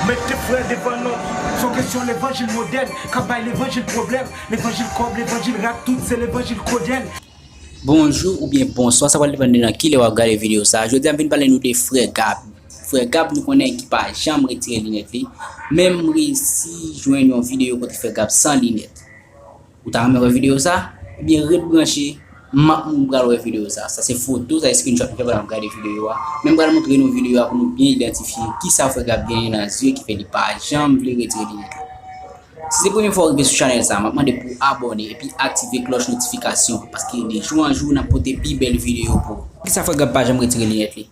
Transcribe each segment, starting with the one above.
Met de frè devan lòt, son kesyon levanjil modèn kap bay levanjil pwoblèm, levanjil kòb, levanjil rat tout se levanjil kodenn. Bonjou oubyen bonswa sa pral depann de nan kilè wap gade video sa, jodi a m vin pale nou de frè Gab, frè Gab nou konnen ki pa janm retire linèt li, men m resi jwenn yon video kote frè Gab san linèt. Ou ta renmen wè video sa? Ebyen ret branche map moun pral wè video sa. Sa se foto, sa se screenshot m fè pandan map gade video a. Men m pral montre nou video a pou nou byen idantifye kisa frè Gab genyen nan zye ki fè li pa janm vle retire linèt la. Si se premye fwa ou rive sou chanèl sa, map mande pouw abòne epi aktive klòch notifikasyon paske de jou an jou nap pote pi bèl video pou ou. Poukisa frè Gab pa janm retire linèt li?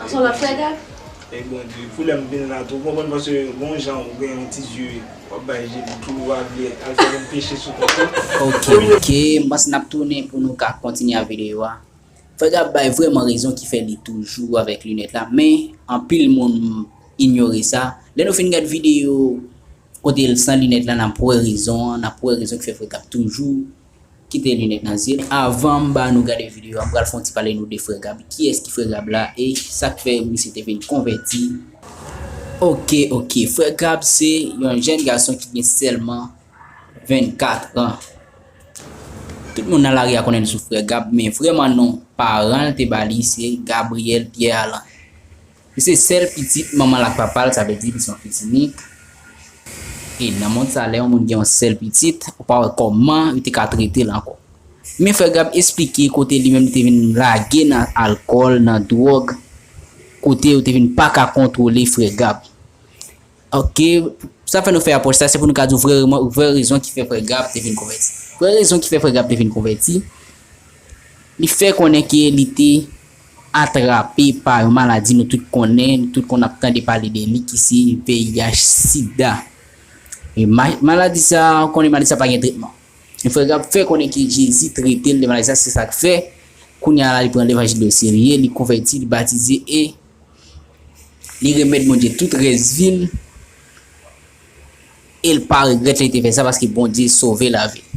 Anson lòt frè Gabe? Hey Bondye, pou lèm vin la tou, ou konprann paske gon jan ou gen yon ti zye wap bay je li tou wa vle al fè yon peche sou kont li. Ok ok m panse nap tounen pou nou ka kontinye a video a. Frè Gab bay vrèman rezon ki fè li toujou avèk linèt la men anpil moun inyore sa. Lè nou fin gad video kote l san linèt la nap wè rezon an, nap wè rezon ki fè frè Gab toujou Kite lunet nan zyem. Avanm ba nou gade video a m pral fon ti pale nou de frè Gab kiyès ki frè Gab la e sak fè misye te vin konvèti ok ok frè Gab se yon jèn gason ki gen sèlman 24 an tout moun nan lari a konnenl sou frè Gab men vrèman non paranl te bali se Gabriel Pierre Alan. Li se sèl pitit manman l ak papa l, sa vle di li se yon fils unique. E nan mond sa lè yon moun gen yon sèl pitit, ou pa wè kòman yo te ka trete l ankò. Men frè Gab esplike kote li menm li te vin lage nan alkòl, nan dwòg, kote yo te vin paka kontwole frè Gab. Ok, sa fè nou fè apwòch sa, se pou nou ka di w vrè rezon ki fè frè Gab te vin konvèti. Vrè rezon ki fè frè Gab te vin konvèti, li fè konnen ke li te atrape pa yon maladi nou tout konnen, nou tout konn ap tande pale de li ki se VIH, sida. E maladi sa, ou konnen maladi sa pa gen tretman. E frè Gab fè konnen ke Jezi trete l de maladi sa, se sa k fè kounye a la li pran levanjil li oserye, li konvèti, li batize e Li remèt Bondye tout rès vi l e l pa regrèt li te fè sa paske Bondye sove lavi l.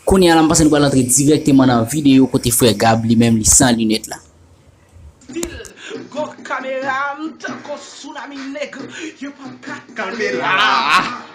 Kounye a la m panse nou pral antre dirèkteman nan videyo kote frè Gab li menm li san linèt la. Pil gwo kamera tankou tsunami nèg yo pap ka kanpe la.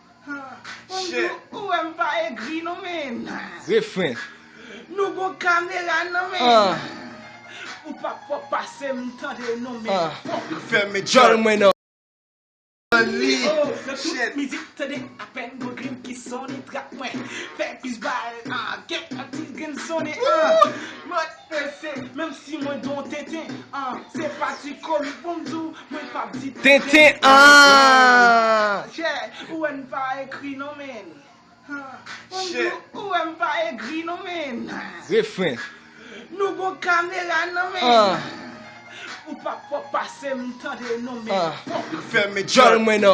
Shit. Ou wè m pa egri non men. Refren. Nou gon kamera non men. Ou pa pwòp pase m tande non men. Li fèmen djòl mwen nan. Li. Shit. Mizik tande apèn gon grenn ki sone trap mwen. Fè plis bal. Kèk atis grenn sone. Woo. Pèse, menm si mwen gen yon tenten ahh Se pa ti komik pou m di w mwen pap di tenten ahh Chè, ou wè n pa egri non menn Pou m di w ou wè m pa egri non menn Refren, Nou gon kamera non menn Ou pa p wè w pase m tande non menn Fèmen djòl mwen nan.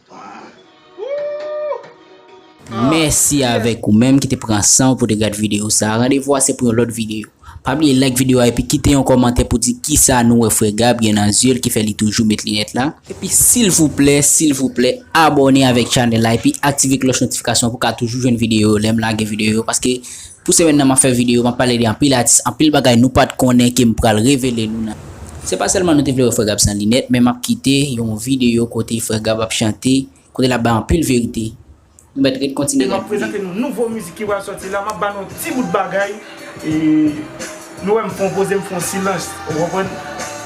Mèsi avèk ou menm ki te pran san ou pou te gad video sa. Randevou a se pou yon lòt video. Pa bliye like video a epi kite yon kòmantè pou di kisa nou wè frè Gab gen nan zye l ki fè li toujou met linèt la. Epi silvouplè silvouplè abòne avèk chanèl la epi aktive klòch notifikasyon pou ka toujou jwenn video yo lè m lage video yo paske Pou semèn nan map fè video map pale de anpil atis anpil bagay nou pat konnen kem pral revele nou nan. Se pa sèlman nou te vle wè frè Gab san linèt men map kite yon video kote frè Gab ap chante kote lap bay anpil verite nou mèt ret kontinye gad video yo. Nouvo mizik ki pral sòti la map ba nou yon ti bout bagay nou wèm fon poze mfon silans ou konprann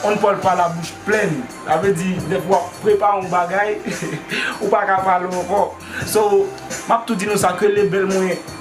on Paul pale a bouch plenn sa vle di depi wap prepare yon bagay ou paka pale ankò so map tou di nou sa ke lebèl mwen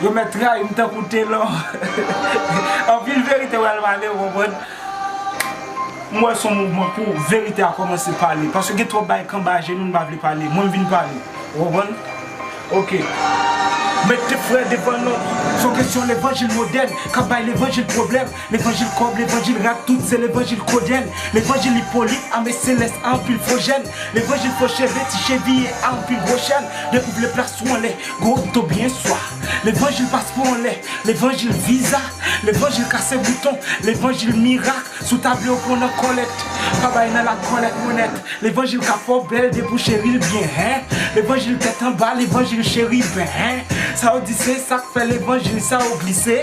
Yo mèt trayi m tankou telò. Anpil verite pral pale ou konprann. M wè son mouvman pou verite a kòmanse pale. Paske gen twòp bagay kanba jenou nou pa vle pale. Mwen m vin pale. Ou konprann? Ok. Mèt te frè depandan. Son kesyon levanjil modèn kap bay levanjil pwoblèm. Levanjil kòb, levanjil rak, tout se levanjil kodèl Levanjil Ipolit, ame selès a anpil fo jèn Levanjil fo cheve, ti cheviye a anpil gwo chèn Depi w vle plas ou anlè, gwo okto byen swa Levanjil paspò anlè, levanjil viza Levanjil kase bouton, levanjil mirak Sou table ou pran nan kòlèt, pa bay nan lakòlèt Mwen nèt, levanjil ka fè w bèl depi w cheri l byen Hen, levanjil tèt anba, levanjil cheriben Hen, sa yo di se sa k fè levanjil sa yo glise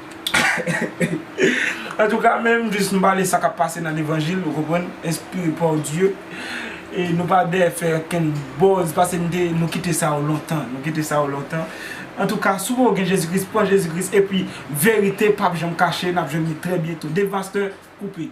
Antouka men m jis m pale sa kap pase nan levanjil ou konprann enspire par Dieu e nou pa dèyè fè okenn buzz pase m te nou kite sa yo lontan nou kite sa yo lontan antouka si w pa gen Jezi Kris pran Jezi Kris epi verite pap janm kache nap jwenn li trè byento Devasteur koupe.